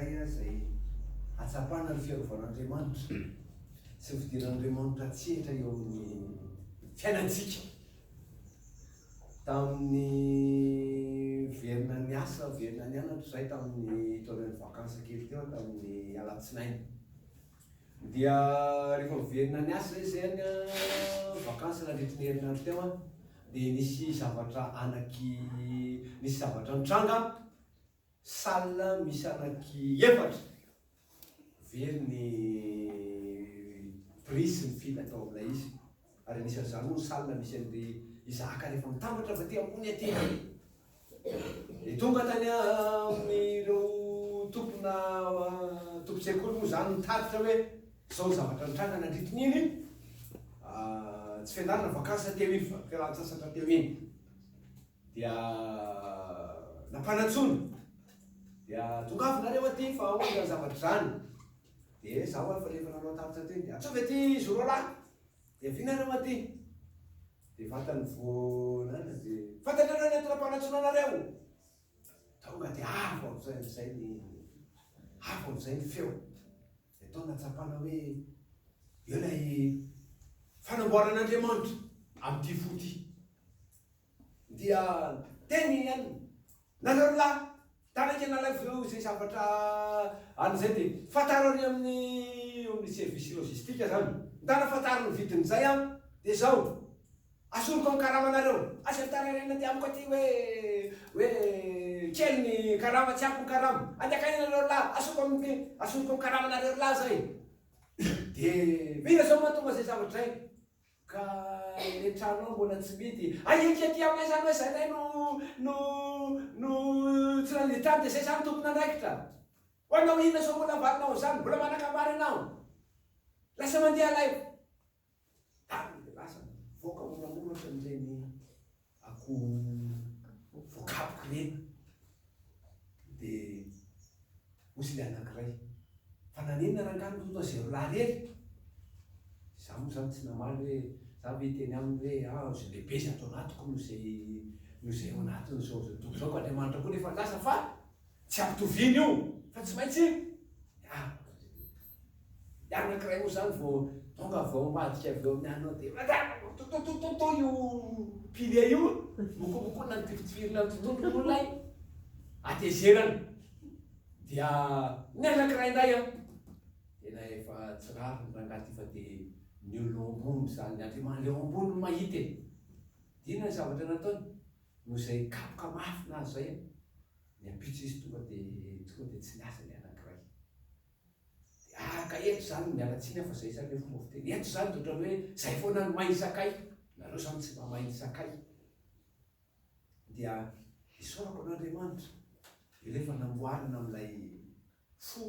anankiray izay hahatsapana ny fiarovan'Andriamanitra sy ny fidiran'Andriamanitra an-tsehatra eo amin'ny fiainantsika. Tamin'ny verina niasa, verina nianatra izahay tamin'ny taorian'ny vakansa kely teo tamin'ny alatsinainy. Dia rehefa verina niasa izahay izay any vakansa nandritry ny herinandro teo an, dia nisy zavatra anaky nisy zavatra nitranga Salle misy anaky efatra very ny prix sy ny fil atao amin'ilay izy ary anisan'izany moa ny salle misy an'ir'i Isahaka rehefa mitambatra avy aty ambony aty. Ny tonga tany amin'ireo tompona tompon-tsekoly moa izany nitatitra hoe izao ny zavatra nitranga nandritrin'iny tsy fianarana, vakansy teo iny fa fialan-tsasatra teo iny. Dia nampanantsoiny, dia tongava nareo aty fa ahoana izany zavatra izany? Dia izaho ary fa rehefa nanao tarika teny dia ataovy aty izy roalahy, dia avia nareo aty. Dia vatany vao nanana dia fantatrareo ny antony nampanantsoina anareo? Tonga dia avo amin'izay amin'izay ny avo amin'izay ny feo, dia tao nahatsapana hoe eo ilay fanamboaran'Andriamanitra amin'ity fo ity. Dia teny i Alina. Nareo lahy, taraiky anareo avy eo izay zavatra any izay dia fantaro any amin'ny eo amin'ny service logistique izany. Mitana fantaro ny vidin'izay an! Dia izao, asoriko amin'ny karamanareo. Aza mitarairana aty amiko aty hoe hoe kely ny karama, tsy ampy ny karama. Andeha akany ianareo lahy, asoriko amin'ny asoriko amin'ny karamanareo lahy izay. Dia mila izao mahatonga izay zavatra izay. Ka le trano ao mbola tsy midy. Aia akia aty aminay zany hoe zay lay no no no tsy nandidy trano de zay zany tompon'andraikitra. Ho anao inona zao mbola avalinao an'zany, mbola manan-kabary ianao. Lasa mandeha lay. Tany de lasa nivoaka moramora ohatran'ireny. akoho voakapoky reny de ozy le anakiray fa nanenina rangah ny loto azy roalahy reny za mo zany tsy namaly hoe za ve iteny aminy hoe ah ozy lehibe zay ato anatiko no zay no zay ao anatiny zao zao tompoko zao ko andriamanitra ko nefa lasa fa Tsy ampitoviana io fa tsy maintsy ny anankiray moa zany vao tonga vao mivadika avy eo amin'ny anao dia matatototototo io pilier io mokomokoina ny tifitifirina ny tontolon'olona iny atezerana dia ny anankiray indray a tena efa tsy rariny rangahy ty fa dia ny eo ambony zany ny andriamany leo ambony no mahita e dia inona ny zavatra nataony noho izay kapoka mafy nahazo zay a ny ampitso izy tonga dia tonga dia tsy niasa ny anankiray. Dia araka eto izany, miala tsiny aho fa izay izany ilay fomba fiteny. Eto izany dia ohatran'ny hoe izay foana no mahay sakay, nareo izany tsy mba mahay sakay. Dia isaorako an'Andriamanitra, dia rehefa namboarina amin'ilay fo,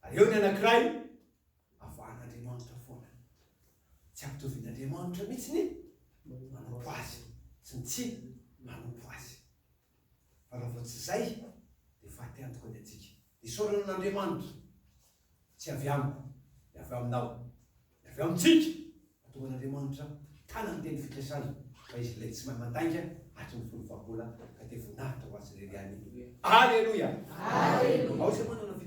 Ary eo ny anankiray, avahan'Andriamanitra foana. Tsy ampitovin'Andriamanitra mihitsy ny manompo azy, sy ny tsy manompo azy. Fa raha vao tsy izay, dia faty antoka ny antsika. Dia isaorana an'Andriamanitra, tsy avy amiko, dia avy aminao, dia avy amintsika, mahatonga an'Andriamanitra hitana ny teny fikasany, fa izy ilay tsy mahay mandainga hatry ny folo fahagola, ka dia voninahitra ho azy irery ihany. Aleloia! Aleloia! Ao izay manana fijoroana.